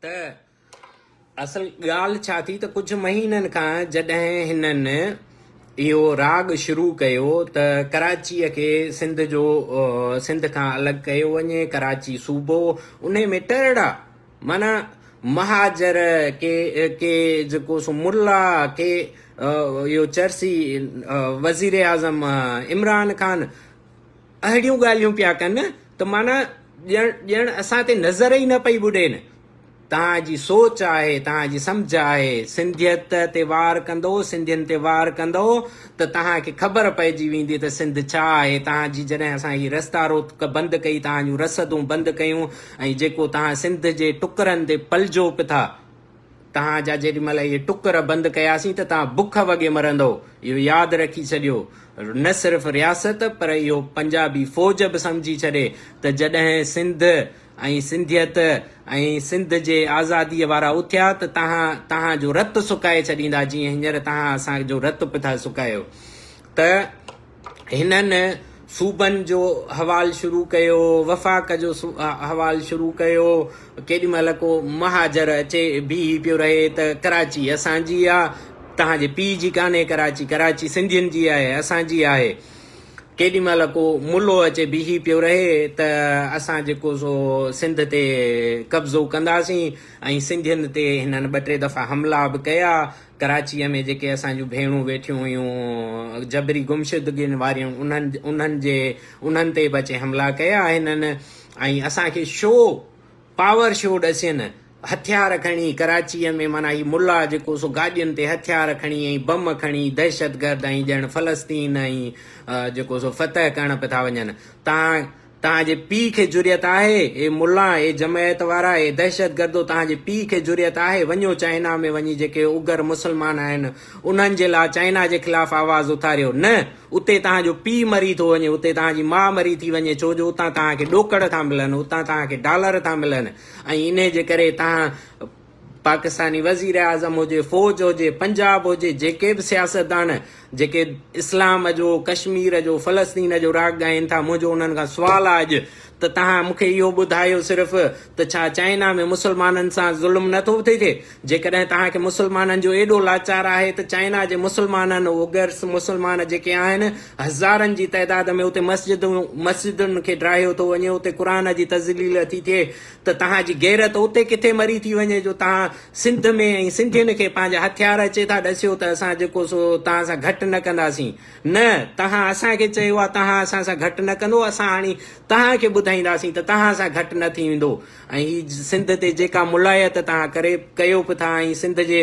ته اصل ڳالهه ڇا ٿي ته ڪجهه مهينن کان جڏهن هنن اهو راڳ شروع ڪيو ته ڪراچيء کي سنڌ جو سنڌ کان الڳ ڪيو وڃي ڪراچي صوبو ان ۾ ٽرڙا معنيٰ مهاجر ڪي ڪي جيڪو سو ملا ڪي اهو چرسي وزير اعظم عمران خان اهڙيون ڳالهيون پيا ڪن ته معنيٰ ڄڻ ڄڻ اسان تي نظر ئي نه پئي ٻڏين. توهان جي سوچ آهي، توهان جي سمجهه آهي، سنڌيت تي وار ڪندو، سنڌين تي وار ڪندو ته توهان کي خبر پئجي ويندي ته سنڌ ڇا آهي. توهان جي جڏهن اسان هي رستا روڪ بند ڪئي، توهان جون رسدون بند ڪيون ۽ جيڪو توهان سنڌ جي ٽڪرن تي پلجو پٿا، توهان جا جيڏي مهل اهي ٽڪر بند ڪياسين ته توهان بک وڳي مرندؤ. اهو ياد رکي ڇڏيو. نه صرف رياست پر اهو پنجابي فوج به سمجهي ڇڏي ته جڏهن سنڌ ۽ سنڌيت ۽ سنڌ جي آزاديء وارا اٿيا ته توهان توهان جو رت سڪائي ڇڏيندا جيئن هينئر توهان اسان جو رت پٿا سڪايو ته هنن صوبن جو حوال شروع ڪيو، وفاق جو حوال شروع ڪيو، ڪيڏي مهل ڪو مهاجر اچي بيهي پيو رهي ته ڪراچي اسان جي آ، توهان جي پيء جي ڪانهي ڪراچي، ڪراچي سنڌين جي آهي، اسان جي آهي. ڪيڏي مهل ڪو ملو اچي بيهي پيو رهي ته اسان جيڪو سو سنڌ تي قبضو ڪنداسين ۽ سنڌين تي هنن ٻه ٽي دفعا حملا به ڪيا، ڪراچيء ۾ جيڪي اسان جون ڀيڻون ويٺيون هيون جبري گمشدگين واريون انهن انهن جي انهن تي به اچي حملا ڪيا آهن ۽ اسان کي شو پاور شو ڏسين هٿيار کڻي ڪراچيء ۾ معنيٰ هي ملا جيڪو سو گاڏين تي هٿيار کڻي ۽ بم کڻي دهشتگرد ۽ ڄڻ فلسطين ۽ جيڪو سو فتح ڪرڻ پيا ٿا وڃن تان توهان جي پيء کي جرئت آهي؟ اي ملان، اي جمعيت وارا، اي دهشتگردو توهان جي پيء کي جرئت آهي؟ وڃو چائنا ۾ وڃي جيڪي اگهر مسلمان آهن انهن جي لا چائنا جي خلاف آواز اٿاريو. نه! اتي توهان جو پيء مري ٿو وڃي، اتي توهان جي ماء مري ٿي وڃي ڇو جو اتان توهان کي ڏوڪڙ ٿا ملن، اتان توهان کي ڊالر ٿا ملن ۽ انهي جي ڪري توهان پاڪستاني وزيراعظم هجي، فوج هجي، پنجاب هجي، جيڪي به سياستدان جيڪي اسلام جو، ڪشمير جو، فلسطين جو راڳ ڳائين ٿا، منهنجو انهن کان سوال آ اڄ ته تهان مون کي اهو ٻڌايو صرف ته ڇا چائنا ۾ مسلمانن سان ظلم نه ٿو ٿئي ٿئي؟ جيڪڏهن توهان کي مسلمانن جو ايڏو لاچار آهي ته چائنا جي مسلمانن، اوگرس مسلمان جيڪي آهن، هزارن جي تعداد ۾ اتي مسجدون، مسجدن کي ڊاهيو ٿو وڃي، اتي قرآن جي تذليل ٿي ٿئي، ته توهان جي غيرت اتي ڪٿي مري ٿي وڃي جو توهان سنڌ ۾ ۽ سنڌين کي پنهنجا هٿيار اچي ٿا ڏسيو ته اسان جيڪو سو توهان سان گهٽ نه ڪنداسين نه توهان اسان کي چيو آهي توهان اسان سان گهٽ نه ڪندو اسان هاڻي توهان کي ٻڌائينداسين ته توهان سان گهٽ نه ٿي ويندو ۽ هي سنڌ تي جيڪا ملايت توهان ڪري ڪيو به ٿا ۽ سنڌ جي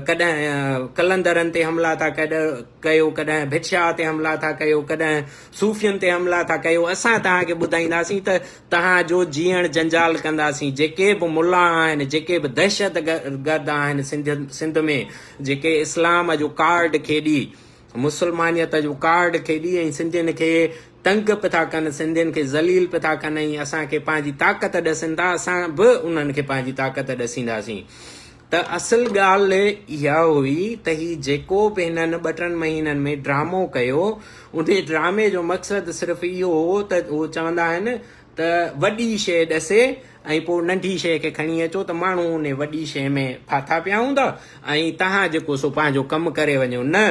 ڪڏهن قلندرن تي حملا ٿا ڪيو ڪڏهن ڀٽشاهه تي حملا ٿا ڪيو ڪڏهن صوفين تي حملا ٿا ڪيو اسان توهان کي ٻڌائينداسين ته تنهن جو جيئڻ جنجال ڪنداسين جيڪي به ملا آهن جيڪي به دهشت گرد آهن سنڌ ۾ جيڪي اسلام جو ڪارڊ کيڏي مسلمانيت جو ڪارڊ کيڏي ۽ سنڌين کي تنگ پي ٿا ڪن سنڌين کي ذليل پي ٿا ڪن ۽ اسان کي پنهنجي طاقت ڏسن ٿا اسان به انهن کي پنهنجي طاقت ڏسينداسين ته اصل ڳالهه اها هئي ته هي جيڪو به هنن ٻه ٽن مهينن ۾ ڊرامو ڪيو، انهي ڊرامي جو مقصد صرف اهو هو ته هو چوندا آهن ته وڏي شيء ڏسي ۽ پوء ننڍي شيء کي کڻي اچو ته ماڻهو انهي وڏي شيء ۾ ڦاٿا پيا هوندا ۽ توهان جيڪو سو پنهنجو ڪم ڪري وڃو نه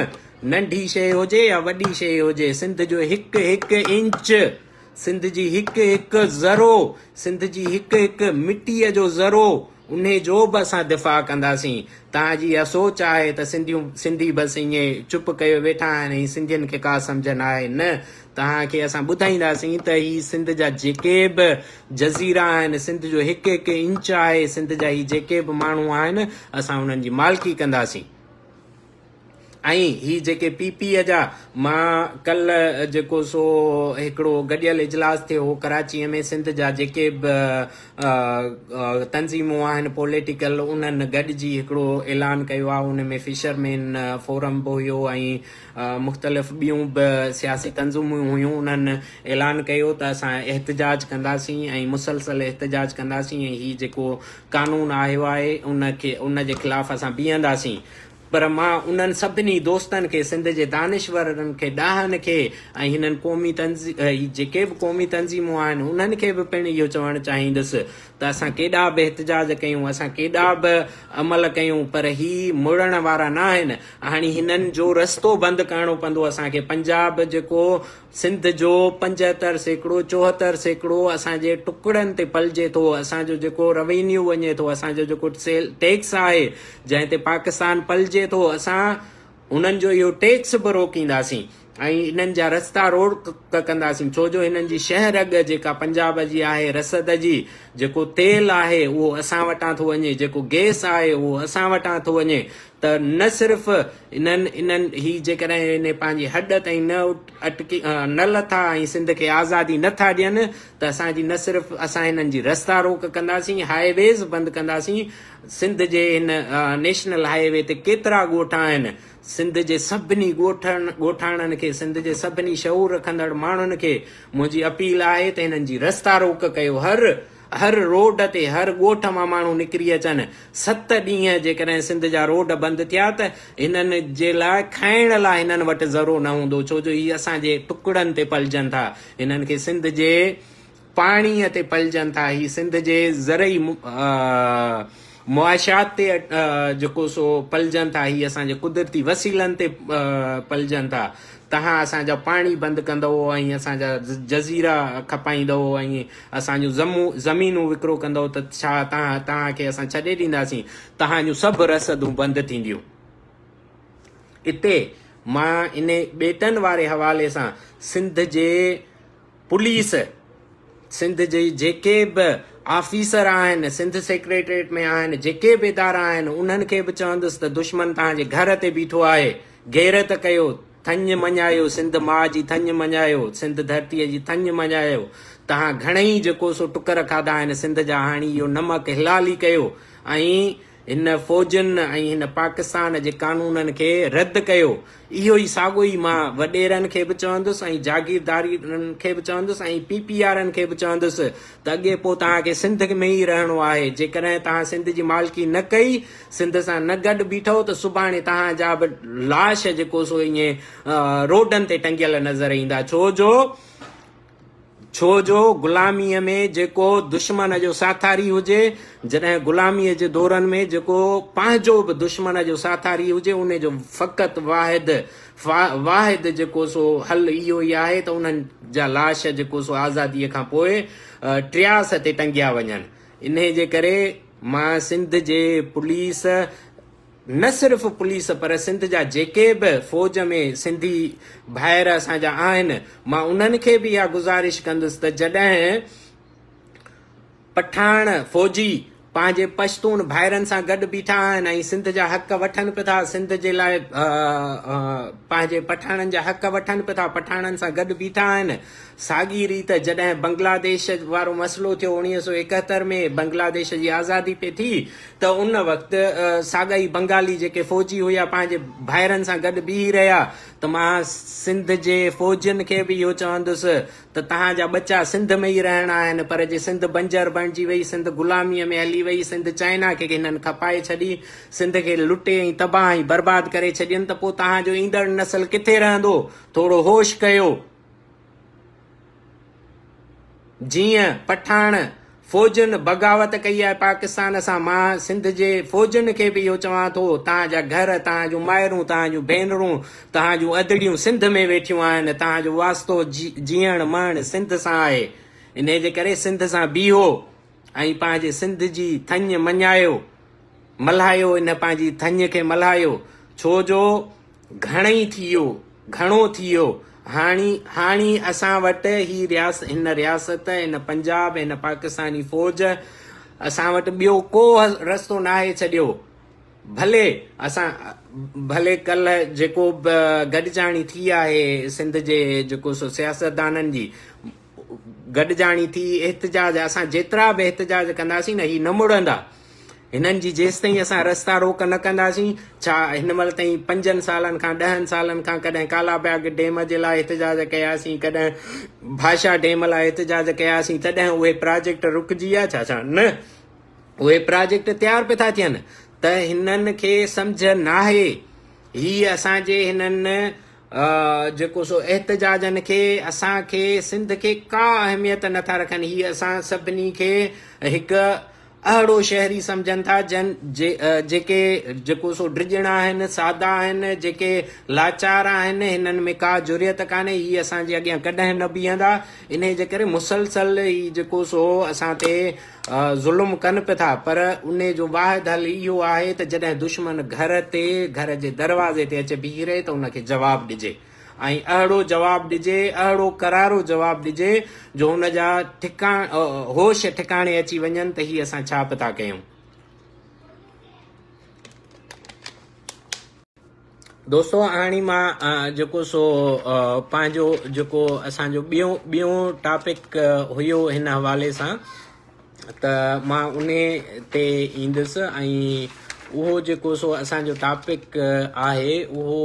ننڍي شيء هجي يا وڏي شيء هجي سنڌ جو هڪ هڪ انچ سنڌ جي هڪ هڪ ذرو، سنڌ جي هڪ هڪ مٽيء جو ذرو، انهي جو به اسان دفاع ڪنداسين. توهان جي اها سوچ آهي ته سنڌيون، سنڌي بس ائين چپ ڪيو ويٺا آهن ۽ سنڌين کي ڪا سمجهه ناهي. نه، توهان کي اسان ٻڌائينداسين ته هي سنڌ جا جيڪي به جزيرا آهن، سنڌ جو هڪ هڪ انچ آهي، سنڌ جا هي جيڪي به ماڻهو آهن، اسان انهن جي مالڪي ڪنداسين. ۽ هي جيڪي پي پي جا مان ڪلهه جيڪو سو هڪڙو گڏيل اجلاس ٿيو هو ڪراچي ۾ سنڌ جا جيڪي به تنظيمون آهن پوليٽيڪل انهن گڏجي هڪڙو اعلان ڪيو آهي ان ۾ فشر مين فورم به هيو ۽ مختلف ٻيون به سياسي تنظيمون هيون انهن اعلان ڪيو ته اسان احتجاج ڪنداسين ۽ مسلسل احتجاج ڪنداسين ۽ هي جيڪو قانون آهيو آهي ان کي ان جي خلاف اسان بيهنداسين پر مان انهن سڀني دوستن کي، سنڌ جي دانشورن کي، ڏاهن کي ۽ هنن قومي تنظيم هي جيڪي به قومي تنظيمون آهن انهن کي به پڻ اهو چوڻ چاهيندس ته اسان ڪيڏا به احتجاج ڪيون، اسان ڪيڏا به عمل ڪيون پر هي مڙڻ وارا ناهن. هاڻي هنن جو رستو بند ڪرڻو پوندو اسان کي. پنجاب جيڪو سنڌ جو پنجهتر سيڪڙو، چوهتر سيڪڙو اسان جي ٽڪڙن تي پلجي ٿو، اسان جو جيڪو روينيو وڃي ٿو، اسان جو جيڪو ٽيڪس آهي، جنهن تي پاڪستان پلجي ٿو، اسان هنن جو اهو ٽيڪس به روڪينداسين ۽ انهن جا رستا روڊ ڪ ڪنداسين، ڇو جو هنن جي شهه رڳ جيڪا پنجاب جي آهي، رسد جي، جيڪو تيل آهي اهو اسان وٽان ٿو وڃي، جيڪو گيس آهي اهو اسان وٽان ٿو وڃي، ته نه صرف انهن انهن هي جيڪڏهن انهي پنهنجي هڏ تائين نه اٽڪي نه لٿا ۽ سنڌ کي آزادي نه ٿا ڏين ته اسان جي نه صرف اسان هنن جي رستا روڪ ڪنداسين هاء ويز بند ڪنداسين سنڌ جي هن نيشنل هاء وي تي ڪيترا ڳوٺ آهن سنڌ جي سڀني ڳوٺن ڳوٺاڻن کي سنڌ جي سڀني شعور رکندڙ ماڻهن کي منهنجي اپيل آهي ته هنن جي رستا روڪ ڪيو هر هر روڊ تي هر ڳوٺ مان ماڻهو نڪري اچن، ست ڏينهن جيڪڏهن سنڌ جا روڊ بند ٿيا ته هنن جي لاء کائڻ لاء هنن وٽ ذرو نه هوندو ڇو جو هي اسان جي ٽڪڙن تي پلجن ٿا، هنن کي سنڌ جي پاڻي تي پلجن ٿا، هي سنڌ جي زرعي معاشيات تي جيڪو سو پلجن ٿا هي اسان جي قدرتي وسيلن تي پلجن ٿا تهان اسان جا پاڻي بند ڪندؤ ۽ اسان جا جزيرا کپائيندؤ ۽ اسان جون زمينون وڪرو ڪندؤ ته ڇا تهان تهان کي اسان ڇڏي ڏينداسين تهان جون سڀ رسدون بند ٿينديون اتي مان ان ٻيٽن واري حوالي سان سنڌ جي پوليس سنڌ جي جيڪي به آفيسر آهن، سنڌ سيڪريٽريٽ ۾ آهن، جيڪي به ادارا آهن، انهن کي به چوندس ته دشمن توهان جي گهر تي بيٺو آهي، غيرت ڪيو، ٿڃ مڃايو، سنڌ ماء جي ٿڃ مڃايو، سنڌ ڌرتيء جي ٿڃ مڃايو، توهان گهڻئي جيڪو سو ٽڪر کاڌا آهن سنڌ جا هاڻي اهو نمڪ حلالي ڪيو ۽ هن فوجن ۽ هن پاڪستان جي قانونن کي رد ڪيو. اهو ئي ساڳو ئي مان وڏيرن کي به چوندس ۽ جاگيردارن کي به چوندس ۽ پي پي آرن کي به چوندس ته اڳي پوء توهان کي سنڌ ۾ ئي رهڻو آهي. جيڪڏهن توهان سنڌ جي مالڪي نه ڪئي، سنڌ سان نه گڏ بيٺئو ته سڀاڻي توهان جا به لاش جيڪو سو ائين روڊن تي ٽنگيل نظر ايندا ڇو جو ڇو جو غلاميء ۾ جيڪو دشمن جو ساٿاري هجي، جڏهن غلاميء جي دورن ۾ جيڪو پنهنجو به دشمن جو ساٿاري هجي، ان جو فقط واحد واحد جيڪو سو حل اهو ئي آهي ته انهن جا لاش جيڪو سو آزاديء کان پوء ٽرياس تي ٽنگيا وڃن. انهيء جي ڪري مان سنڌ جي پوليس، نه صرف پوليس پر سنڌ جا جيڪي به فوج ۾ سنڌي ڀائر اسان جا آهن مان انهن کي به اها گذارش ڪندس ته جڏهن پٺاڻ فوجي پنهنجي پشتون ڀائرن سان گڏ بيٺا آهن ۽ سنڌ جا حق وٺن به ٿا سنڌ جي لاء پنهنجي پٺاڻن جا حق وٺن به ٿا پٺاڻن سان گڏ بيٺا آهن ساڳي ريت جڏهن بنگلاديش وارو مسئلو ٿيو اوڻيهه سؤ ايڪهتر ۾ بنگلاديش جي آزادي پئي ٿي ته ان وقت ساڳئي بنگالي جيڪي فوجي هيا پنهنجي ڀائرن سان گڏ بيهي رهيا ته مان سنڌ جي فوجين کي به اهو چوندس ته تهان جا ٻچا سنڌ ۾ ئي رهڻا آهن پر جي سنڌ بنجر بڻجي وئي سنڌ غلامي ۾ هلي وئي سنڌ چائنا کي هنن کپائي ڇڏي سنڌ کي لٽي ۽ تباهه ۽ برباد ڪري ڇڏين ته پوء تهان جو ايندڙ نسل ڪٿي رهندو ٿورو هوش ڪيو. جيئن پٺاڻ فوجن بغاوت ڪئي آهي پاڪستان سان، مان سنڌ جي فوجن کي به اهو چوان ٿو، توهان جا گهر، توهان جون مائرون، توهان جون ڀينرون، توهان جون ادڙيون سنڌ ۾ ويٺيون آهن، توهان جو واسطو جيئڻ مئڻ سنڌ سان آهي، انهي جي ڪري سنڌ سان بيهو ۽ پنهنجي سنڌ جي ٿڃ مڃايو، ملهايو، انهي پنهنجي ٿڃ کي ملهايو، ڇو جو. گهڻئي ٿيو، گهڻو ٿيو، هاڻي، هاڻي اسان وٽ هي رياست، هن رياست، هن پنجاب، هن پاڪستاني فوج، اسان وٽ ٻيو ڪو رستو ناهي ڇڏيو. ڀلي اسان، ڀلي ڪلهه جيڪو به گڏجاڻي ٿي آهي سنڌ جي جيڪو سو سياستدانن جي، گڏجاڻي ٿي احتجاج اسان جيترا به احتجاج ڪنداسين نه هي نه مڙندا هنن جي جيس تائين اسان رستا روڪ نه ڪنداسين ڇا هن مل تائين پنجن سالن کان ڏهن سالن کان ڪڏهن ڪالا باغ ڊيم جي لاء احتجاج ڪياسين ڪڏهن بھاشا ڊيم لاء احتجاج ڪياسين تڏهن اهي پراجيڪٽ رڪجي ويا ڇا ڇا نه اهي پراجيڪٽ تيار پي ٿا ٿين ته هنن کي سمجھ ناهي هي اسان جي هنن جيڪو سو احتجاجن کي اسان کي سنڌ کي ڪا اهميت نه ٿا رکن هي اسان سڀني کي هڪ اهڙو شهري سمجهن ٿا جن جيڪي جيڪو سو ڊڄڻا آهن سادا آهن جيڪي لاچار آهن هنن ۾ ڪا جريت ڪانهي هي اسان جي اڳيان ڪڏهن نه بيهندا انهي جي ڪري مسلسل هي جيڪو سو اسان تي ظلم ڪن پئي ٿا پر ان جو واحد حل اهو آهي ته جڏهن دشمن گهر تي گهر جي دروازي تي اچي بيهي رهي ته ان کي جواب ڏجي ۽ اهڙو جواب ڏجي اهڙو ڪرارو جواب ڏجي جو هن جا ٺڪاڻ هوش ٺڪاڻي اچي وڃن ته هي اسان ڇا پئي ٿا ڪيون. دوستو هاڻي مان جيڪو سو پنهنجو جيڪو اسان جو ٻيو ٻيو ٽاپڪ هيو هن حوالي سان ته مان ان تي ايندس ۽ اهو جيڪو سو اسان جو ٽاپڪ آهي اهو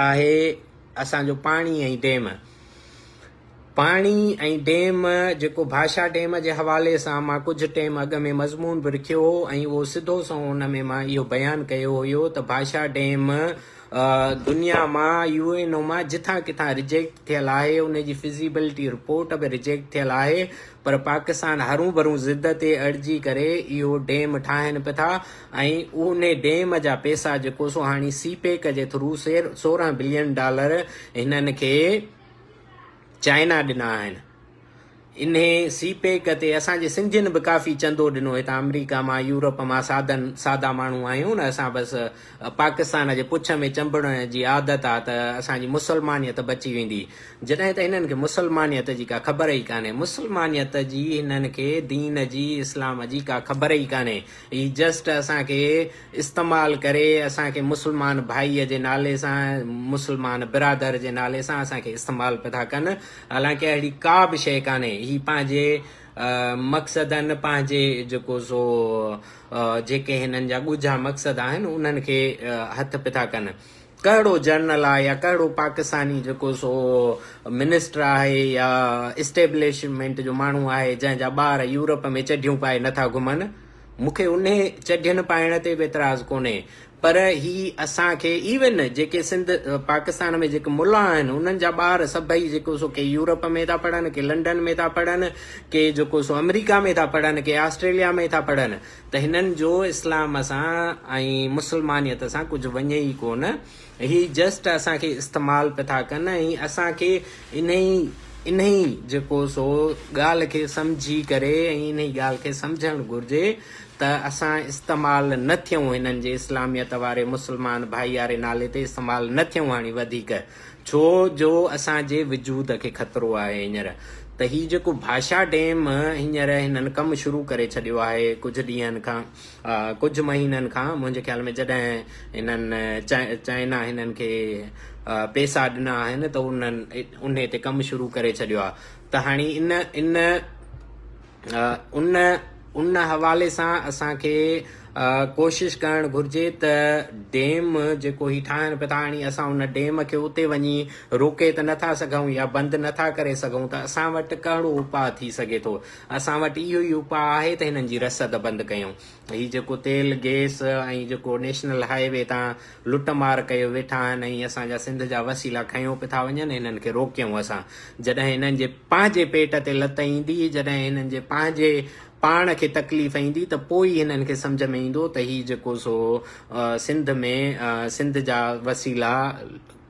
آهي اسان جو پاڻي ۽ ڊيم پاڻي ۽ ڊيم جيڪو ڀاشا ڊيم جي حوالي سان مان ڪجهه ٽيم اڳ ۾ مضمون به لکيو هو ۽ اهو سڌو سنئون ان ۾ مان اهو بيان ڪيو هيو ته ڀاشا ڊيم دنيا مان يو اين او مان جٿان ڪٿان رجيڪٽ ٿيل آهي ان جي فزيبلٽي رپورٽ به رجيڪٽ ٿيل آهي پر پاڪستان هرون ڀرون ضد تي اڙجي ڪري اهو ڊيم ٺاهن به ٿا ۽ ان ڊيم جا پيسا جيڪو سو هاڻي سي پيڪ جي ٿرو سورهن بلين ڊالر هنن کي چائنا ڏنا آهن. انهي سي پيڪ تي اسان جي سنڌين به ڪافي چندو ڏنو هتان آمريڪا مان يورپ مان سادن سادا ماڻهو آهيون نه اسان بس پاڪستان جي پڇ ۾ چنبڙڻ جي عادت آ ته اسان جي مسلمانيت بچي ويندي جڏهن ته هنن کي مسلمانيت جي ڪا خبر ئي ڪانهي مسلمانيت جي هنن کي دين جي اسلام جي ڪا خبر ئي ڪانهي هي جسٽ اسان کي استعمال ڪري اسان کي مسلمان ڀائي جي نالي سان مسلمان برادر جي نالي سان اسان کي استعمال پيا ٿا ڪن حالانڪه اهڙي ڪا به شيء ڪانهي هي پنهنجي مقصدن پنهنجي جيڪو سو جيڪي هنن جا ڳجها مقصد آهن انهن کي هٿ پيا ٿا ڪن ڪهڙو جرنل آهي يا ڪهڙو پاڪستاني جيڪو سو منسٽر آهي يا اسٽيبلشمينٽ جو ماڻهو آهي جنهن جا ٻار يورپ ۾ چڍيون پائي نٿا گهمن مون کي انهي چڍين پائڻ تي به اعتراض ڪونهي پر هي اسان کي ايون جيڪي سنڌ پاڪستان ۾ جيڪي ملا آهن انهن جا ٻار سڀئي جيڪو سو ڪي يورپ ۾ ٿا پڙهن ڪي لنڊن ۾ ٿا پڙهن ڪي جيڪو سو آمريڪا ۾ ٿا پڙهن ڪي آسٽريليا ۾ ٿا پڙهن ته هنن جو اسلام سان ۽ مسلمانيت سان ڪجهه وڃي ئي ڪونه هي جسٽ اسان کي استعمال پئي ٿا ڪن ۽ اسان کي انهي انهي جيڪو سو ڳالهه کي سمجهي ڪري ۽ انهي ڳالهه کي سمجهڻ گهرجي ته اسان استعمال نه ٿيون هنن جي اسلاميت واري مسلمان ڀائياري نالي تي استعمال نه ٿيون هاڻي وڌيڪ ڇو جو اسان جي وجود کي خطرو آهي هينئر ته هي جيڪو ڀاشا ڊيم هينئر هنن ڪم شروع ڪري ڇڏيو آهي ڪجهه ڏينهن کان ڪجهه مهينن کان منهنجي خيال ۾ جڏهن هنن چائنا هنن کي پيسا ڏنا آهن ته انهن انهي تي ڪم شروع ڪري ڇڏيو آهي ته هاڻي ان ان ان ان حوالي سان اسان کي ڪوشش ڪرڻ گهرجي ته ڊيم جيڪو هي ٺاهڻ پيا ٿا هاڻي اسان ان ڊيم کي اتي وڃي روڪي ته نٿا سگهون يا بند نٿا ڪري سگهون ته اسان وٽ ڪهڙو اپاء ٿي سگهي ٿو اسان وٽ اهو ئي اپاء آهي ته هنن جي رسد بند ڪيون. هي جيڪو تيل، گيس ۽ جيڪو نيشنل هاء وي تان لٽ مار ڪيو ويٺا آهن ۽ اسان جا سنڌ جا وسيلا کنيو پٿا وڃن هنن کي روڪيون اسان جڏهن هنن جي پنهنجي پيٽ تي لت ايندي جڏهن هنن جي پنهنجي پاڻ کي تڪليف ايندي ته پوء ئي هنن کي سمجهه ۾ ايندو ته هي جيڪو سو سنڌ ۾ سنڌ جا وسيلا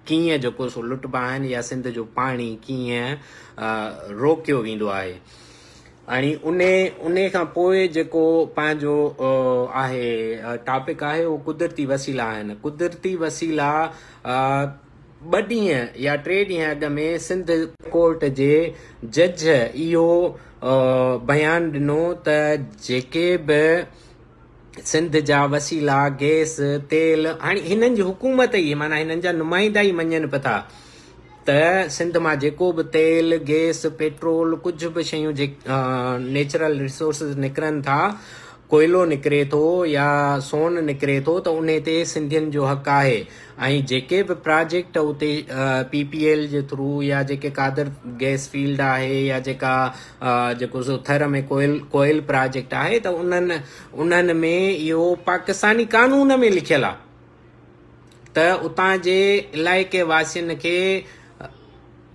ڪيئن جيڪو سو لٽبا آهن يا سنڌ جو پاڻي ڪيئن روڪيو ويندو آهي ۽ ان ان کان پوء جيڪو پنهنجو آهي ٽاپڪ آهي اهو قدرتي وسيلا آهن قدرتي وسيلا ٻه ڏينهن يا ٽي ڏينهن اڳ ۾ سنڌ ڪورٽ جي جج اهو بيان ڏنو ته جيڪي به سنڌ جا وسيلا، گئس، تيل، هاڻي هنن جي حڪومت ئي معنيٰ هنن جا نمائندا ئي مڃن به ٿا ته سنڌ مان جيڪو به تيل، گئس، پيٽرول ڪجهه به شيون جي نيچرل ريسورسز نڪرن ٿا، ڪوئلو نڪري ٿو يا سون نڪري ٿو ته انهي تي سنڌين جو حق آهي ۽ جيڪي به پراجيڪٽ اتي پي پي ايل جي ٿرو يا جيڪي قادر گئس فيلڊ آهي يا جيڪا جيڪو سو ٿر ۾ ڪوئل ڪوئل پراجيڪٽ آهي ته انهن انهن ۾ اهو پاڪستاني قانون ۾ لکيل آهي ته اتان جي علائقي واسين کي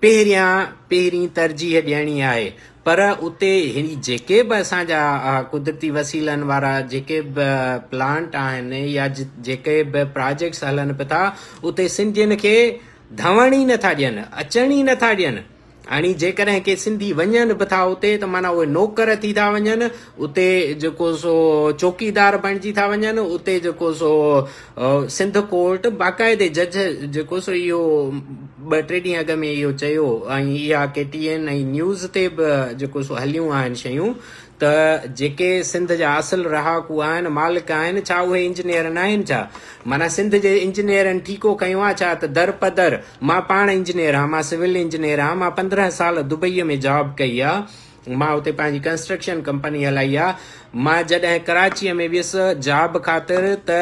پهريان پهرين ترجيح ڏيڻي آهي پر اتي هن جيڪي به اسان جا قدرتي وسيلن وارا جيڪي به پلانٽ آهن يا جيڪي به پراجيڪٽس هلن پيا ٿا اتي سنڌين کي ڌوڻ ئي نٿا ڏين اچڻ ئي نٿا ڏين هاڻي جيڪڏهن ڪي سنڌي وڃن به ٿا اتي ته معنيٰ اهي نوڪر ٿي ٿا وڃن، اتي جيڪو سو چوڪيدار بڻجي ٿا وڃن، اتي جيڪو سو سنڌ ڪورٽ باقاعدي جج جيڪو سو اهو ٻه ٽي ڏينهن اڳ ۾ اهو چيو ۽ اها ڪي ٽي اين ۽ نيوز تي به جيڪو سو هليون آهن شيون ته جيڪي سنڌ جا اصل رهاڪو آهن مالڪ آهن ڇا اهي انجنيئر ناهن ڇا معنيٰ سنڌ جي انجنيئرن ٺيڪو کنيو آهي ڇا ته درپدر مان پاڻ انجنيئر آهيان، مان سول انجنيئر آهيان، مان پندرهن سال دبئيء ۾ جاب ڪئي آهي، مان اتي پنهنجي ڪنسٽرڪشن ڪمپني هلائي آهي، مان جڏهن ڪراچيء ۾ ويس جاب خاطر ته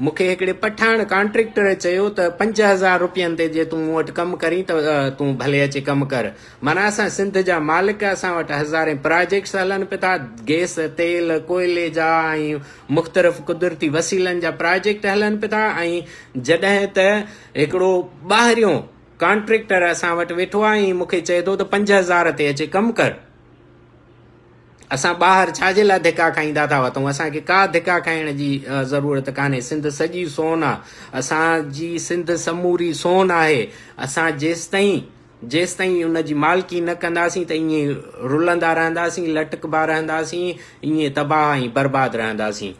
مون کي هڪڙي پٺاڻ ڪانٽريڪٽر چيو ته پنج هزار روپين تي جي تون مون وٽ ڪم ڪرين ته تون ڀلي اچي ڪم ڪر، معنيٰ اسان سنڌ جا مالڪ، اسان وٽ هزارين پراجيڪٽس هلن به ٿا، گئس، تيل، ڪوئلي جا ۽ مختلف قدرتي وسيلن جا پراجيڪٽ هلن به ٿا ۽ جڏهن ته. هڪڙو ٻاهريون ڪانٽريڪٽر اسان وٽ ويٺو آهي ۽ مون کي چئي ٿو ته پنج هزار تي اچي ڪم ڪر. اسان ٻاهر ڇا جي لاء ڌڪا کائيندا ٿا وتون؟ اسان کي ڪا ڌڪا کائڻ جي ضرورت ڪانهي. سنڌ سڄي سون آ. اسان جي سنڌ سموري سون آهي. اسان جيستائين جيستائين ان جي مالڪي نه ڪنداسين ته ائين رلندا رهنداسين، لٽڪبا رهنداسين، ائين تباهه ۽ برباد رهنداسين.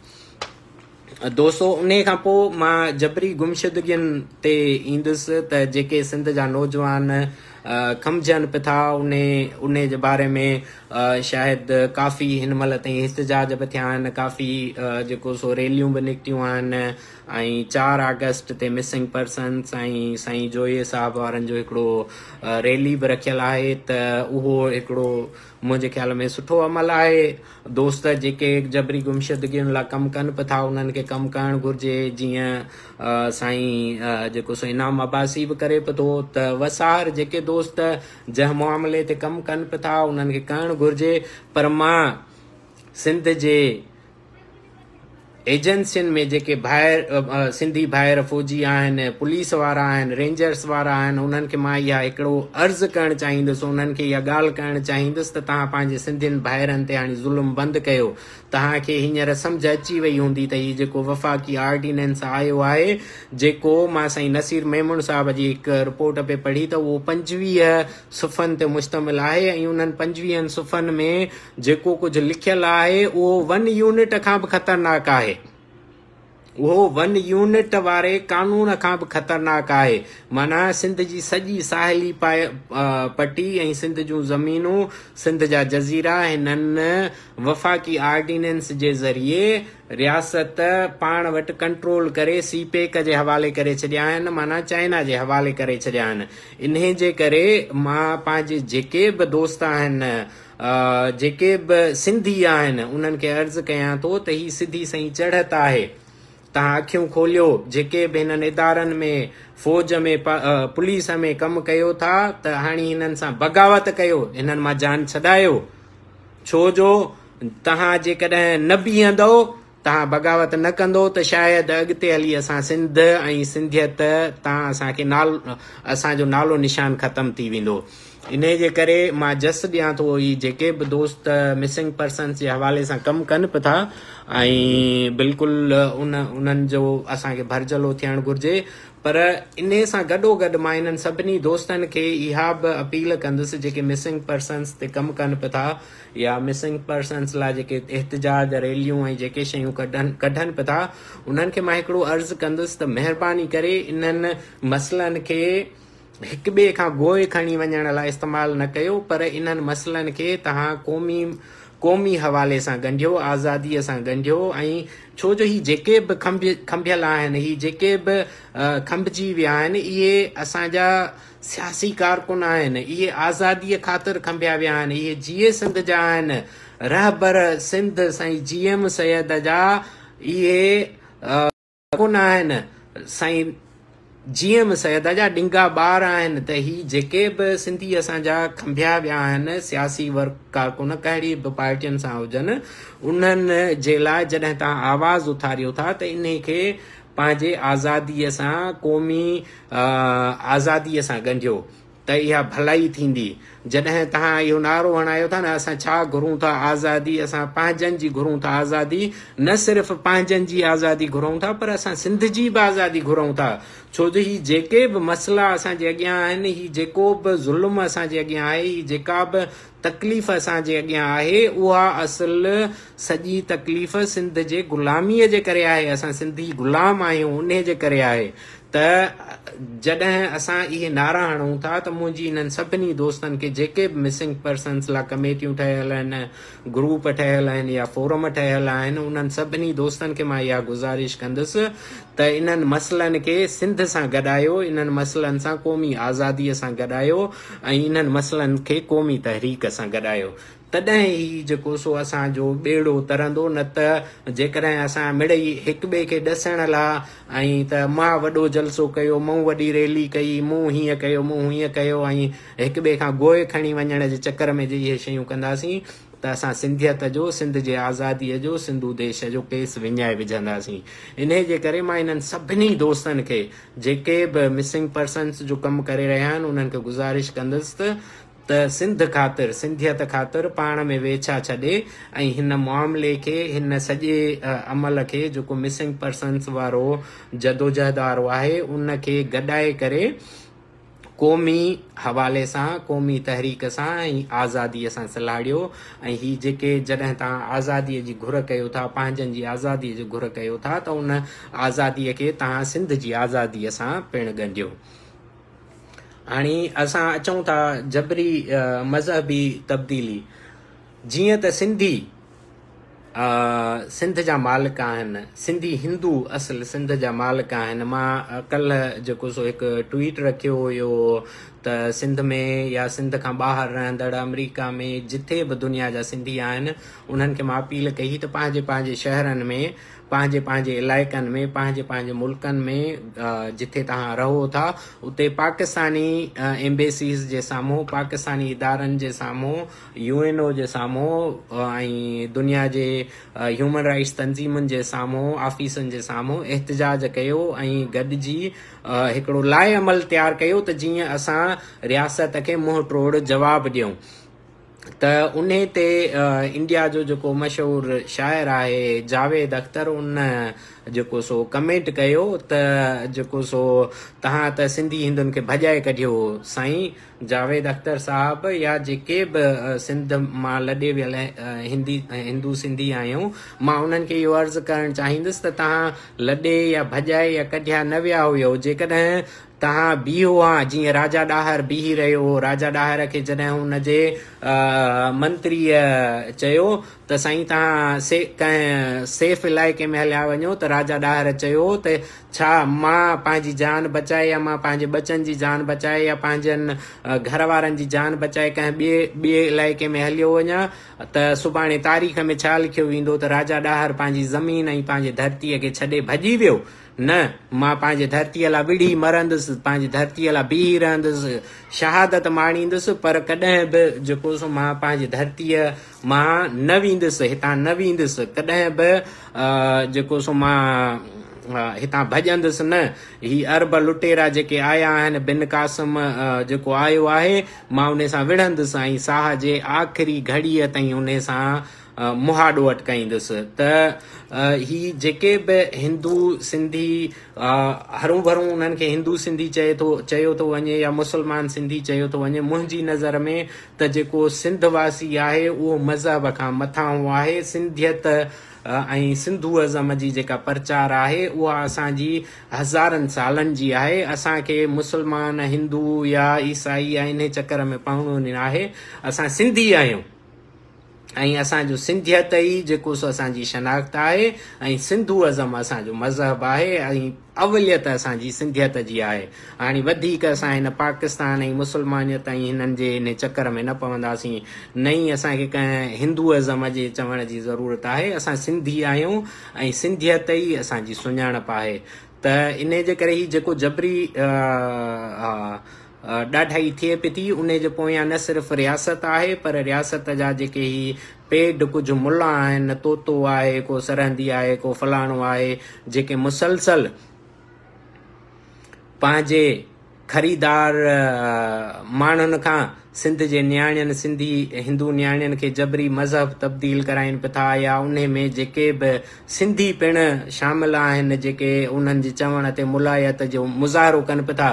دوستو انهي کان پوء مان جبري گمشدگين تي ايندس ته جيڪي سنڌ جا نوجوان کمجهن پٿا انهي جي باري ۾ شايد ڪافي هن مهل تائين احتجاج به ٿيا آهن ڪافي جيڪو سو ريليون به نڪتيون آهن ۽ چار آگسٽ تي مسنگ پرسنس ۽ سائين جويي صاحب وارن جو هڪڙو ريلي به رکيل آهي ته اهو هڪڙو منهنجي خيال ۾ سٺو عمل آهي. دوست جيڪي جبري گمشدگين لا ڪم ڪن به ٿا انهن کي ڪم ڪرڻ گهرجي جيئن سائين جيڪو سو انعام عباسي به ڪري به ٿو ته وسار جيڪي دوست جنهن معاملي تي ڪم ڪن به ٿا انهن کي ڪرڻ گهرجي پر مان سنڌ جي ايجنسين ۾ جيڪي ڀائر سنڌي ڀائر فوجي آهن پوليس وارا آهن رينجرس وارا آهن انهن کي مان اها هڪڙو عرض ڪرڻ چاهيندس انهن کي اها ڳالهه ڪرڻ چاهيندس ته توهان پنهنجي سنڌين ڀائرن تي هاڻي ظلم بند ڪيو توهان کي هينئر سمجهه اچي وئي هوندي ته هي جيڪو وفاقي آرڊيننس آيو آهي جيڪو مان سائين نصير ميمڻ صاحب جي هڪ رپورٽ پئي پڙهي ته اهو پنجويهه صفحن تي مشتمل آهي ۽ انهن پنجويهن صفحن ۾ جيڪو ڪجهه لکيل آهي اهو ون يونٽ کان به خطرناڪ آهي. اهو ون يونٽ واري قانون کان به خطرناڪ آهي. معنيٰ سنڌ جي سڄي ساحلي پٽي ۽ سنڌ جون زمينون، سنڌ جا جزيرا هنن وفاقي آرڊيننس جي ذريعي رياست پاڻ وٽ ڪنٽرول ڪري سي پيڪ جي حوالي ڪري ڇڏيا آهن، معنيٰ چائنا جي حوالي ڪري ڇڏيا آهن. انهي جي ڪري مان پنهنجي جيڪي به دوست آهن، جيڪي به سنڌي آهن انهن کي عرض ڪيان ٿو ته هي سڌي سئي چڙهت آهي تهان اکيون کوليو جيڪي به هنن ادارن ۾ فوج ۾ پوليس ۾ ڪم ڪيو ٿا ته هاڻي هنن سان بغاوت ڪيو هنن مان جان ڇڏايو ڇو جو تهان جيڪڏهن نه بيهندو تان بغاوت نه ڪندو ته شايد اڳتي هلي اسان سنڌ ۽ سنڌيت تان اسان کي نال اسان جو نالو نشان ختم ٿي ويندو انهي جي ڪري مان جس ڏيان ٿو هي جيڪي به دوست مسنگ پرسنس جي حوالي سان ڪم ڪن به ٿا ۽ بلڪل ان انهن جو اسان کي ڀرجهلو ٿيڻ گهرجي پر انهي سان گڏو گڏ مان انهن سڀني دوستن کي اها به اپيل ڪندس جيڪي مسنگ پرسنس تي ڪم ڪن به ٿا يا مسنگ پرسنز لاء جيڪي احتجاج ريليون ۽ جيڪي شيون ڪڍن ڪڍن به ٿا انهن کي مان هڪڙو عرض ڪندس ته مهرباني ڪري انهن مسئلن کي هڪ ٻئي کان گوء کڻي وڃڻ لاء استعمال نه ڪيو پر انهن مسئلن کي تهان قومي قومي حوالي سان ڳنڍيو آزادي سان ڳنڍيو ۽ ڇو جو هي جيڪي به کنڀيل آهن هي جيڪي به کنڀجي ويا آهن اهي اسان جا سياسي ڪارڪن آهن، اهي آزاديء خاطر کنڀيا ويا آهن، اهي جيئي سنڌ جا آهن، رهبر سنڌ سائين جي ايم سيد جا اهي ڪارڪن آهن، سائين جي ايم سيد جا ڏنگا ٻار آهن ته هي جيڪي به سنڌي اسان جا کنڀيا ويا آهن، سياسي ورڪ ڪارڪن ڪهڙي به پارٽين سان هجن، انهن جي لاء جڏهن توهان آواز اٿاريو ٿا ته انهي کي پنهنجي آزاديء سان قومي آزاديء سان ڳنڍيو ته اها ڀلائي ٿيندي. جڏهن توهان اهو نعرو هڻايو ٿا نه اسان ڇا گهرون ٿا آزادي، اسان پنهنجن جي گهرون ٿا آزادي، نه صرف پنهنجن جي آزادي گهرون ٿا پر اسان سنڌ جي به آزادي گهرون ٿا ڇو جو هي جيڪي به مسئلا اسان جي اڳيان آهن، هي جيڪو به ظلم اسان جي اڳيان آهي، هي جيڪا به تڪليف اسان جي اڳيان آهي اها اصل سڄي تڪليف سنڌ جي غلامي جي ڪري آهي اسان سنڌي غلام آهيون انهي جي ڪري آهي ته جڏهن اسان اهي نعرا هڻون ٿا ته منهنجي انهن سڀني دوستن کي جيڪي به مسنگ پرسنس لا ڪميٽيون ٺهيل آهن گروپ ٺهيل آهن يا فورم ٺهيل آهن انهن سڀني دوستن کي مان اها گذارش ڪندس ته انهن مسئلن کي سنڌ سان گڏايو انهن مسئلن سان قومي آزادي سان گڏايو ۽ انهن مسئلن کي قومي تحريڪ سان گڏايو تڏهن ئي جيڪو سو اسان جو ٻيڙو ترندو نه ته جيڪڏهن اسان مڙئي هڪٻئي کي ڏسڻ لا۽ ته مان وڏو جلسو ڪيو مون وڏي ريلي ڪئي مون هيئن ڪيو مون هونئن ڪيو ۽ هڪٻئي کان گوء کڻي وڃڻ جي چڪر ۾ جي اهي شيون ڪنداسين ته اسان سنڌيت جو سنڌ جي آزادي جو سنڌو ديش جو ڪيس وڃائي وجهنداسين انهي جي ڪري مان انهن سڀني دوستن کي جيڪي به مسنگ پرسنز جو ڪم ڪري رهيا آهن انهن کي گذارش ڪندس ته سنڌ خاطر سنڌيت خاطر پاڻ ۾ ويڇا ڇڏي ۽ هن معاملي کي هن سڄي عمل کي جيڪو مسنگ پرسنز وارو جدوجهد وارو آهي ان کي گڏائي ڪري قومي حوالي سان، قومي تحريڪ سان ۽ آزاديء سان سلهاڙيو ۽ هي جيڪي جڏهن توهان آزاديء جي گهر ڪيو ٿا، پنهنجن جي آزاديء جي گهر ڪيو ٿا ته ان آزاديء کي توهان سنڌ جي آزاديء سان پڻ ڳنڍيو. هاڻي اسان اچون ٿا جبري مذهبي تبديلي جيئن ته سنڌي سنڌ جا مالڪ آهن سنڌي هندو اصل سنڌ جا مالڪ آهن مان ڪلهه جيڪو سو هڪ ٽويٽ رکيو هيو ته سنڌ ۾ يا سنڌ کان ٻاهر رهندڙ آمريڪا ۾ جتي به دنيا جا سنڌي آهن انهن کي مان اپيل ڪئي ته پنهنجي پنهنجي شهرن ۾ پنهنجي پنهنجي علائقن ۾ پنهنجي پنهنجي ملڪن ۾ جتي توهان رهو ٿا اتي پاڪستاني ايمبيسيز جي سامهون پاڪستاني ادارن جي سامهون يو اين او جي سامهون ۽ دنيا جي هيومن رائٽس تنظيمن جي سامهون آفيسن جي سامهون احتجاج ڪيو ۽ گڏجي هڪڙو لائحه عمل تيار ڪيو ته جيئن اسان رياست کي منهن ٽوڙ جواب ڏيون ته انهي تي انڊيا جو جيڪو مشهور شاعر آهي جاويد اختر ان جيڪو سو ڪمينٽ ڪيو ته جيڪو سو تهان ته سنڌي هندن کي ڀڄائي ڪڍيو سائين جاويد اختر صاحب يا جيڪي به سنڌ مان لڏي ويل هندي هندو سنڌي آهيون مان انهن کي اهو عرض ڪرڻ چاهيندس ته تهان لڏي يا ڀڄائي يا ڪڍيا نه ويا هيو جيڪڏهن تهان بيهو ها جيئن راجا ڏاهر بيهي رهيو هو راجا ڏاهر کي جڏهن ان جي منتريء چيو ته سائين تهان سي ڪنهن سيف علائقي ۾ هليا وڃو ته راجا ڏاهر چيو ته ڇا مان پنهنجي جان بچائي يا مان پنهنجي ٻچن جي جان بچائي يا پنهنجن گهر وارن جي جان بچائي ڪنهن ٻئي ٻئي علائقي ۾ هليو وڃان ته سڀاڻي تاريخ ۾ ڇا لکيو ويندو ته راجا ڏاهر پنهنجي زمين ۽ پنهنجي ڌرتيء کي ڇڏي ڀڄي ويو؟ نه، مان پنهنجي ڌرتيء لا وڙهي مرندس، پنهنجي ڌرتيء لا بيهي رهندس، شهادت ماڻيندس، پر ڪڏهن به جيڪو سو مان پنهنجي ڌرتيء مان نه ويندس، هتان نه ويندس، ڪڏهن به جيڪو سو مان هتان ڀڄندس نه. هي عرب لٽيرا جيڪي آيا آهن، بن قاسم جيڪو آيو آهي، مان انهي سان وڙهندس ۽ ساهه جي آخري گهڙيء تائين انهي سان مهاڏو اٽڪائيندس ته هي جيڪي به هندو سنڌي، هرون ڀرون انهن کي هندو سنڌي چئي ٿو، چيو ٿو وڃي يا مسلمان سنڌي چيو ٿو وڃي، منهنجي نظر ۾ ته جيڪو سنڌ واسي آهي اهو مذهب کان مٿانهون آهي، سنڌيت ۽ سنڌوازم جي جيڪا پرچار آهي اها اسان جي هزارن سالن جي آهي، اسان کي مسلمان، هندو يا عيسائي يا انهي چڪر ۾ پوڻو ناهي، اسان سنڌي آهيون ۽ اسان جو سنڌيت ئي جيڪو سو اسان جي شناخت آهي ۽ سنڌوازم اسان جو مذهب آهي ۽ اوليت اسان جي سنڌيت جي آهي. هاڻي وڌيڪ اسان هن پاڪستان ۽ مسلمانيت ۽ هنن جي انهي چڪر ۾ نه پونداسين. نه ئي اسان کي ڪنهن هندوئزم جي چوڻ جي ضرورت آهي. اسان سنڌي آهيون ۽ سنڌيت ئي اسان جي سڃاڻپ آهي. ته انهي جي ڪري هي جيڪو جبري ڏاڍائي ٿئي پئي ٿي انهي جي پويان نه صرف رياست آهي پر رياست جا جيڪي هي پيڊ ڪجهه ملا آهن طوطو آهي ڪو سرهندي آهي ڪو فلاڻو آهي جيڪي مسلسل پنهنجي خريدار ماڻهن کان سنڌ جي نياڻين سنڌي هندو نياڻين کي جبري مذهب تبديل ڪرائين پئي ٿا يا انهي ۾ جيڪي به سنڌي پڻ شامل آهن جيڪي انهن جي چوڻ تي ملائيت جو مظاهرو ڪن به ٿا.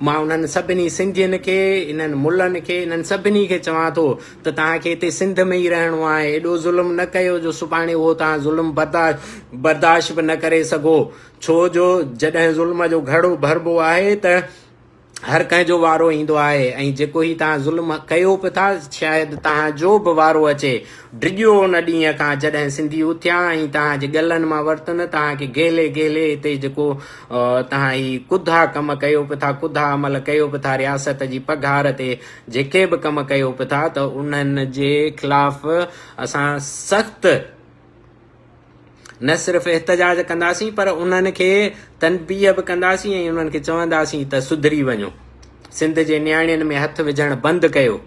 مان انهن سڀني سنڌين کي، انهن ملن کي، انهن سڀني کي چوان ٿو ته توهان کي هتي سنڌ ۾ ئي رهڻو آهي. ايڏو ظلم نه ڪيو جو سڀاڻي اهو توهان ظلم برداشت به نه ڪري سگهو. ڇو جو جڏهن ظلم جو گهڙو ڀربو آهي ته. هر ڪنهن جو وارو ايندو آهي ۽ جيڪو هي توهان ظلم ڪيو به ٿا شايد توهان جو به وارو اچي. ڊڄو ان ڏينهن کان جڏهن سنڌي اٿيا ۽ توهان جي ڳلن مان ورتن توهان کي گهلي گهلي هتي جيڪو توهان هي ڪڌا ڪم ڪيو به ٿا ڪڌا عمل ڪيو به ٿا رياست جي پگهار تي جيڪي به ڪم ڪيو به ٿا ته انهن جي خلاف اسان سخت نه صرف احتجاج ڪنداسين پر انهن کي تنبيهه به ڪنداسين ۽ انهن کي چونداسين ته سڌري وڃو سنڌ جي نياڻين ۾ هٿ وجهڻ بند ڪيو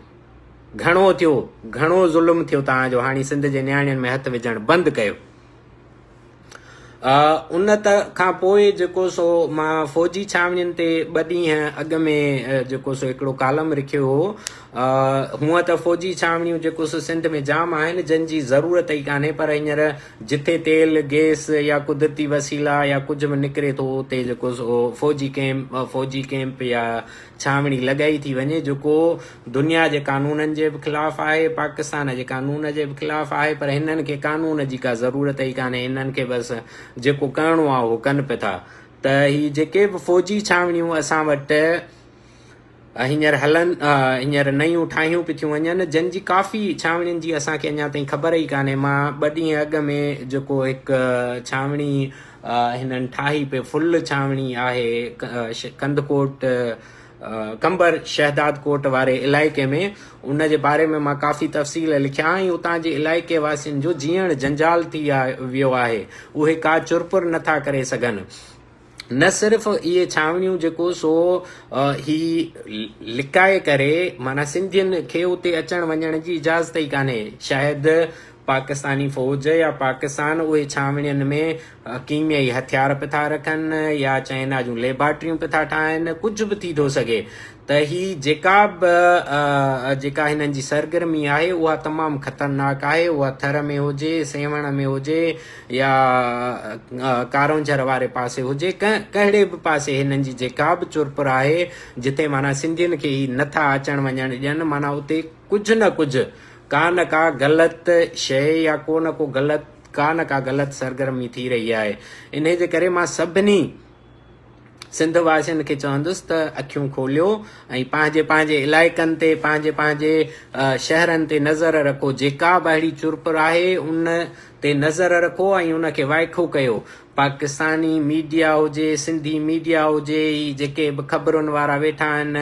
گهڻو ٿيو گهڻو ظلم ٿيو توهان جو هاڻي سنڌ جي نياڻين ۾ هٿ وجهڻ بند ڪيو ان کان پوء جيڪو سو مان فوجي ڇانوڻين تي ٻه ڏينهن اڳ ۾ جيڪو سو هڪڙو ڪالم لکيو هو هونئن ته فوجي ڇانوڻيون جيڪوس سنڌ ۾ جام آهن جن جي ضرورت ئي ڪانهي پر هينئر جٿي تيل، گيس يا قدرتي وسيلا يا ڪجهه به نڪري ٿو اتي جيڪوس فوجي ڪئمپ فوجي ڪئمپ يا ڇانوڻي لڳائي ٿي وڃي جيڪو دنيا جي قانونن جي به خلاف آهي پاڪستان جي قانون جي به خلاف آهي پر هنن کي قانون جي ڪا ضرورت ئي ڪانهي هنن کي بس جيڪو ڪرڻو آهي اهو ڪن پئي ٿا ته هي جيڪي به فوجي ڇانوڻيون اسان وٽ هينئر هلن، هينئر نيون ٺاهيون به ٿيون وڃن، جن جي ڪافي ڇانوڻين جي اسان کي اڃا تائين خبر ئي ڪانهي. مان ٻه ڏينهن اڳ ۾ جيڪو هڪ ڇانوڻي هنن ٺاهي پئي، فل ڇانوڻي آهي، ڪنڌڪوٽ قمبر شهداد ڪوٽ واري علائقي ۾، ان جي باري ۾ مان ڪافي تفصيل لکيا ۽ اتان جي علائقي واسين جو جيئڻ جنجال ٿي ويو آهي، اهي ڪا چرپر نٿا ڪري سگهن. نه صرف اهي ڇانوڻيون جيڪو سو هي لڪائي ڪري معنيٰ سنڌين کي اتي اچڻ وڃڻ جي اجازت ئي ڪانهي شايد پاڪستاني فوج يا پاڪستان اهي ڇانوڻين ۾ ڪيميائي هٿيار پٿا رکن يا چائنا جون ليبارٽريون پٿا ٺاهن ڪجهه به ٿي ٿو سگهي ته هي جيڪا به جيڪا هنن جي سرگرمي آهي اها تمام خطرناڪ آهي اها ٿر ۾ هجي سيوهڻ ۾ هجي يا ڪارونجهر واري پاسي هجي ڪهڙي به پاسي هنن جي جيڪا به چرپر آهي جتي معنيٰ سنڌين کي هي نٿا اچڻ وڃڻ ڏين معنيٰ اتي ڪجهه نه ڪجهه ڪا نه ڪا غلط شيء يا ڪو نه ڪو غلط ڪا نه ڪا غلط سرگرمي ٿي رهي آهي انهي جي ڪري مان سڀني سنڌ واسين کي چوندس ته اکيون کوليو ۽ پنهنجي پنهنجي علائقن تي پنهنجي پنهنجي شهرن تي نظر رکو جيڪا به اهڙي چرپر آهي ان تي نظر رکو ۽ ان کي وائکو ڪيو پاڪستاني ميڊيا هجي سنڌي ميڊيا هجي هي جيڪي به خبرن وارا ويٺا آهن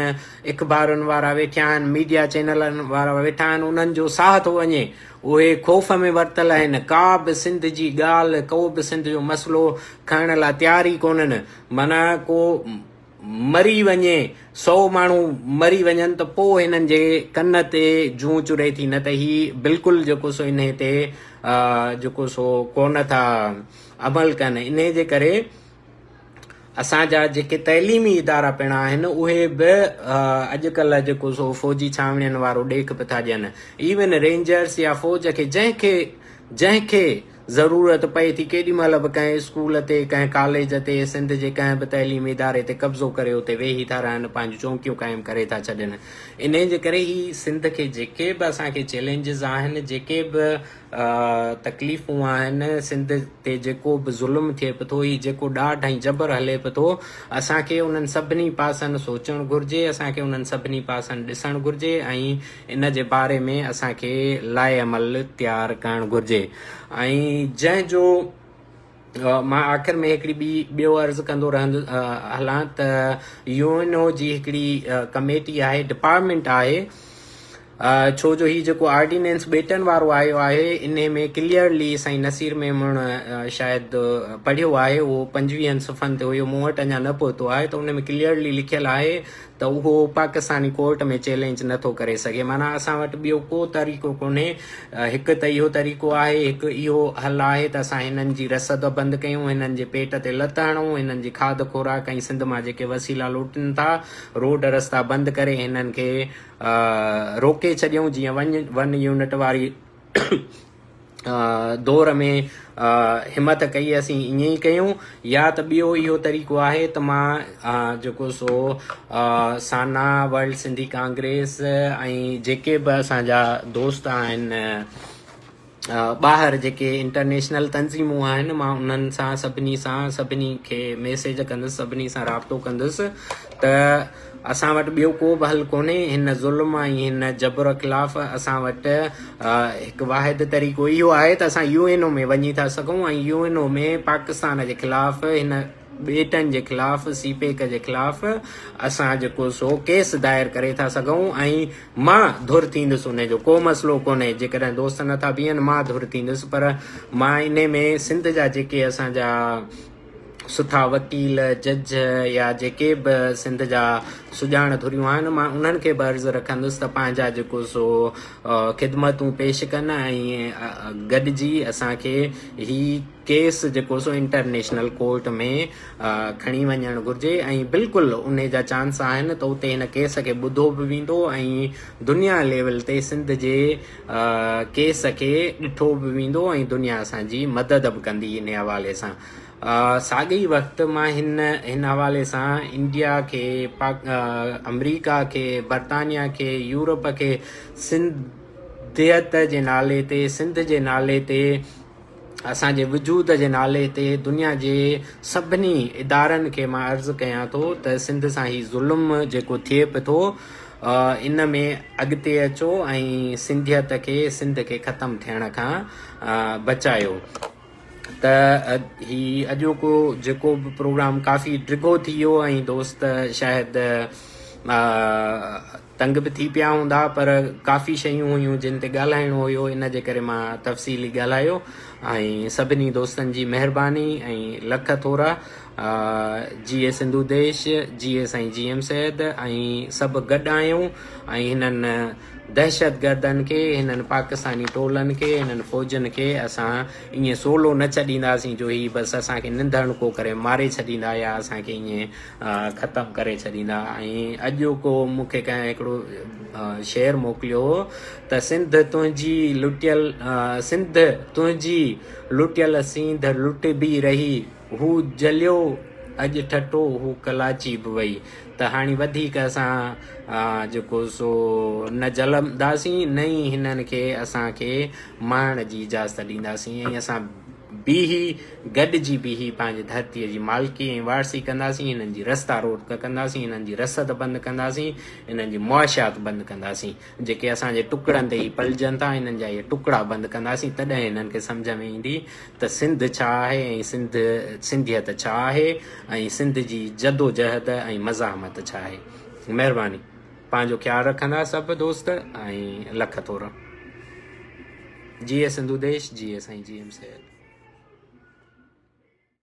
اخبارن وارا ويٺا آهن ميڊيا چينلن وارا ويٺا آهن انهن جو ساهه ٿو وڃي اهي خوف ۾ ورتل آهن، ڪا به سنڌ جي ڳالهه، ڪو به سنڌ جو مسئلو کڻڻ لاء تيار ئي ڪونهن. معنيٰ ڪو مري وڃي، سؤ ماڻهو مري وڃن ته پوء هنن جي ڪن تي جون چري ٿي، نه ته هي بلڪل جيڪو سو انهي تي جيڪو سو ڪونه ٿا عمل ڪن. انهي جي ڪري. اسان جا جيڪي تعليمي ادارا پڻ آهن اهي به اڄڪلهه جيڪو سو فوجي ڇانوڻين وارو ڏيک پئي ٿا ڏين. ايون رينجرس يا فوج کي جنهن کي جنهن کي ضرورت پئي ٿي ڪيڏي مهل به ڪنهن اسڪول تي ڪنهن ڪاليج تي سنڌ جي ڪنهن به تعليمي اداري تي قبضو ڪري اتي ويهي ٿا رهن پنهنجون چونڪيون قائم ڪري ٿا ڇڏين انهي جي ڪري هي سنڌ کي جيڪي به اسان کي چئلينجز آهن جيڪي به تڪليفون آهن سنڌ تي جيڪو به ظلم ٿئي پئي ٿو هي جيڪو ڏاڍ ۽ جبر هلي پئي ٿو اسان کي انهن سڀني پاسن سوچڻ گهرجي اسان کي انهن سڀني پاسن ڏسڻ گهرجي ۽ ان جي باري ۾ اسان کي لائحه عمل تيار ڪرڻ گهرجي ۽ جنهن جو مان آخر ۾ هڪڙي ٻي ٻيو عرض ڪندو رهندو هلان ته يو اين او جي هڪڙي ڪميٽي آهي ڊپارٽمنٽ آهي ڇو جو هي جيڪو آرڊيننس ٻيٽن وارو آيو آهي انهي ۾ ڪليئرلي سائين نصير ميمڻ شايد پڙهيو آهي اهو پنجويهن صفحن تي هيو مون وٽ اڃا نه پهتو آهي ته ان ۾ ڪليئرلي لکيل آهي ته اهو پاڪستاني ڪورٽ ۾ چئلينج نه ٿو ڪري سگهي معنيٰ اسان وٽ ٻيو ڪو طريقو ڪونهي هڪ ته اهو طريقو آهي هڪ اهو حل آهي ته اسان هنن جي رسد بند ڪيون هنن جي پيٽ تي لت هڻون هنن جي کاڌ خوراڪ ۽ سنڌ مان جيڪي وسيلا لوٽين ٿا روڊ رستا بند ڪري هنن کي روڪي ڇڏيون جيئن ون يونٽ واري دور ۾ همٿ ڪئي اسين ائين ئي ڪيون يا ته ٻيو اهو طريقو آهي ته مان جيڪو سو سانا ورلڊ سنڌي ڪانگريس ۽ جيڪي به اسان جا دوست آهن ٻاهر جيڪي انٽرنيشنل تنظيمون آهن مان انهن سان سڀني سان سڀني کي ميسج ڪندس سڀني سان رابطو ڪندس ته اسان وٽ ٻيو ڪو به حل ڪونهي، هن ظلم ۽ هن جبر خلاف اسان وٽ هڪ واحد طريقو اهو آهي ته اسان يو اين او ۾ وڃي ٿا سگهون ۽ يو اين او ۾ پاڪستان جي خلاف هن ٻيٽن جي خلاف سي پيڪ جي خلاف اسان جيڪو سو ڪيس دائر ڪري ٿا سگهون ۽ مان ڌر ٿيندس ان جو ڪو مسئلو ڪونهي جيڪڏهن دوست نٿا بيهن مان ڌر ٿيندس پر مان انهي ۾ سنڌ جا جيڪي اسان جا سٺا وڪيل، جج يا جيڪي به سنڌ جا سڄاڻ ڌريون آهن، مان انهن کي به عرض رکندس ته پنهنجا جيڪو سو خدمتون پيش ڪن ۽ گڏجي اسان کي هي ڪيس جيڪو سو انٽرنيشنل ڪورٽ ۾ کڻي وڃڻ گهرجي ۽ بلڪل انهي جا چانس آهن ته اتي هن ڪيس کي ٻڌو به ويندو ۽ دنيا ليول تي سنڌ جي ڪيس کي ڏٺو به ويندو ۽ دنيا اسان جي مدد به ڪندي ان حوالي سان ساڳئي وقت مان هن هن حوالي سان انڊيا کي پاڪ امريڪا کي برطانيا کي يورپ کي سنڌيت جي نالي تي سنڌ جي نالي تي اسان جي وجود جي نالي تي دنيا جي سڀني ادارن کي مان عرض ڪيان ٿو ته سنڌ سان هي ظلم جيڪو ٿئي پئي ٿو ان ۾ اڳتي اچو ۽ سنڌيت کي سنڌ کي ختم ٿيڻ کان بچايو ته هي اڄوڪو جيڪو به پروگرام ڪافي ڊگهو ٿي ويو ۽ دوست شايد تنگ به ٿي پيا هوندا پر ڪافي شيون هيون جن تي ڳالهائڻو هيو ان جي ڪري مان تفصيلي ڳالهايو ۽ سڀني دوستن جي مهرباني ۽ لک ٿورا جيئي سنڌو ديش جيئي سائين جي ايم سيد ۽ سڀ گڏ آهيون ۽ هنن دهشت گردن کي هنن پاڪستاني ٽولن کي هنن فوجن کي اسان ائين سولو نه ڇڏينداسين جو هي بس اسان کي ننڌڻڪو ڪري ماري ڇڏيندا يا اسان کي ائين ختم ڪري ڇڏيندا ۽ اڄ ڪو مون کي ڪنهن هڪڙو شعر موڪليو هو ته سنڌ تنهنجي لٽيل سنڌ تنهنجي لٽيل سينڌ لٽبي رهي هو جليو اڄ ٺٽو هو ڪلاچي به وئي ته هاڻي وڌيڪ اسان جيڪو سو نه جلنداسين نه ئي هنن کي اسان کي مهڻ جي اجازت ڏينداسين ۽ اسان بيهي گڏجي بيهي پنهنجي ڌرتي جي مالڪي ۽ وارثي ڪنداسين هنن جي رستا روٽڪ ڪنداسين هنن جي رسد بند ڪنداسين هنن جي معاشيات بند ڪنداسين جيڪي اسان جي ٽڪڙن تي هي پلجن ٿا هنن جا هي ٽڪڙا بند ڪنداسين تڏهن هنن کي سمجهه ۾ ايندي ته سنڌ ڇا آهي ۽ سنڌ سنڌيت ڇا آهي ۽ سنڌ جي جدوجهد ۽ مزاحمت ڇا آهي مهرباني پنهنجو خيال رکندا سڀ دوست ۽ لک ٿورا. جيئي سنڌو ديش جيئي سائين جي ايم سيد.